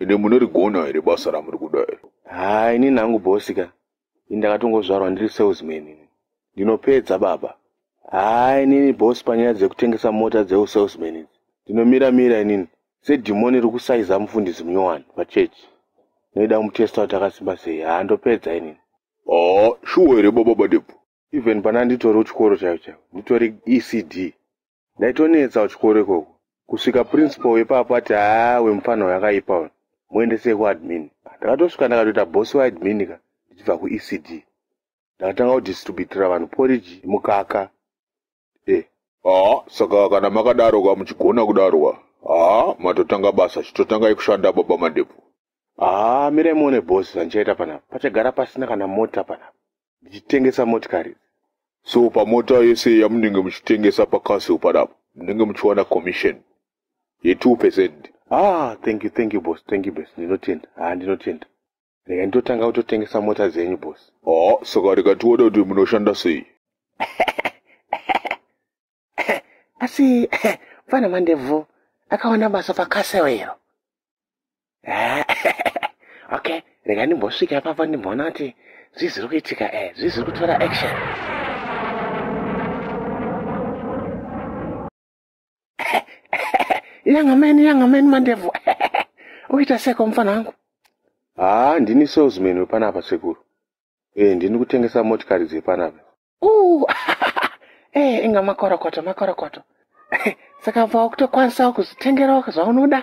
ende munorigona here basa ramuri kuda iri haa ini nangu bosi ka ini ndakatongozvarwa ndiri salesman ini ndinopedza baba haa inini bosi panyaya dzekutengesa mota dzeusalesman idzi ndinomira mira inini sedhimoni iri kusaiza mufundisi munyowani pachechi noida kumutesta kuti akasimba sei haa ndopedza inini haa shuwa here baba badebvu even pana nditori kuchikoro chaivo chaivo nditori ecd ndaitonetsa kuchikoro ikoko kusvika principal wepapo ati haa wemufana uyo akaipa uyo muendesei kuadmin ndakatosvika ndakatoita bosi waadmin ka ndichibva kuecd ndakatanga kudistributira vanhu poriji mukaka eh. haa saka kana makadaro ka muchigona kudaro ka haa matotanga basa chitotangai kushanda baba mandebvu haa mirai muone bosi zvandichaita panapa pachagara pasina kana mota panapa ndichitengesa motikari so pamota yese yamunenge muchitengesa pacastle panapa munenge muchiwana commission ye two percent ah thank you thank you boss thank you boss ndinotenda haa ndinotenda rega ndotanga kutotengesa mota dzenyu bos haa saka rega tione kuti munoshanda sei asi mfana mandebvu akaona basa pakasewero okay rega ndimbosvika ipapa ndimboona kuti zvii zviri kuitika e eh, zvii zviri kutora action young man young man mandevu uita seko mufana wangu haa ndini salesman wepanapa sekuru e ndini kutengesa motikari dzepanapa uh, e inga makorokoto makorokoto saka bva wakutokwanisawo kuzvitengerawo zvaunoda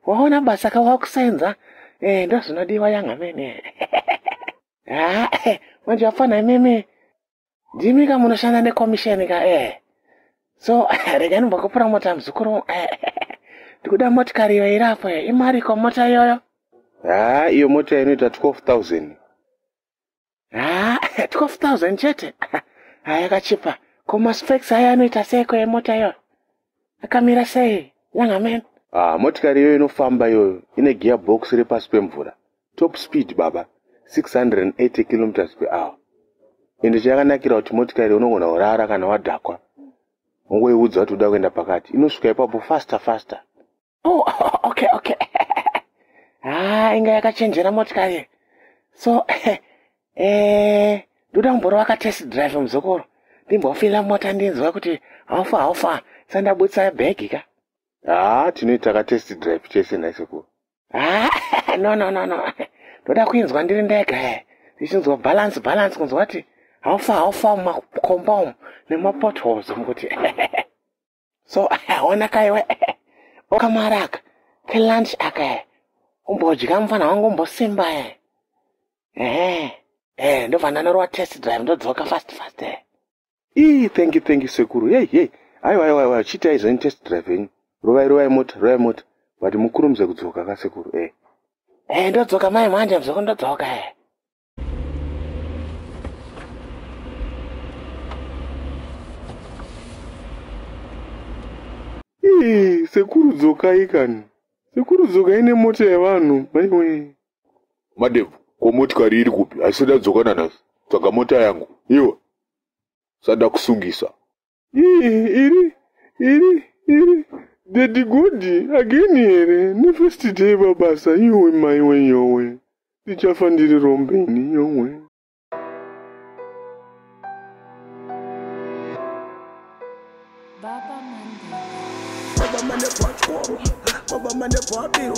waona basa ka wakusenza e ndozvinodiwa young man haa manje wafana imimi ndimi ka munoshanda nekomisheni ka eh so rega ndimbokupura mota muzukuru eh, ndikuda motikari iyo iri apo eh. imariko mota iyoyo haa iyo mota inoita 12000 haa 12000 chete haa yakachipa komaspex aya anoita seiko yemota iyoyo akamira sei yangamen ah motikari iyoyo inofamba iyoyo ine gear box repasi pemvura top speed baba 680 kilometers per hour ende chayakanakira kuti motikari unogona kurara kana wadhakwa ungoiudza kuti uda kuenda pakati inosvika ipapo faster faster oh okay okay ah inga yakachenjera motikari so eh ndoda kumborova ka test drive muzukuru ndimbofila mota ndinzwa kuti haufa haufa sandabudisa bhegi ka haa tinoita ka test drive chese nhai sekuru haa ah, no no no no ndoda kuinzwa ndiri ndega e ndichinzwa balance balance kunzwa kuti haufa haufa mumakomba umu nemapotholes umu kuti so ona kaiwe okamwari aka kelunch aka e umbodya mufana wangu umbosimba e ehe e ndobva ndanorova test drive ndodzoka fast fast e ii thank you thank you sekuru yei yei aiwa aiwa aiwa chiitai zveni test drive yenyu rovai rovai mota rovai mota but mukurumidze kudzoka kasekuru e e ndodzoka mai manje mzoko ndodzoka e sekuru dzokai kani sekuru dzokai nemota yevanhu maiwe madem ko motikari iri kupi haisada dzokana nhasi tsvaga mota yangu iwe sada kusungisa iri iri iri dedi godi ageni here nefirst day babasa yowe maiwe yowe ndichafa ndiri rombe ini yowe Baba mane pachoro, baba mane pabiro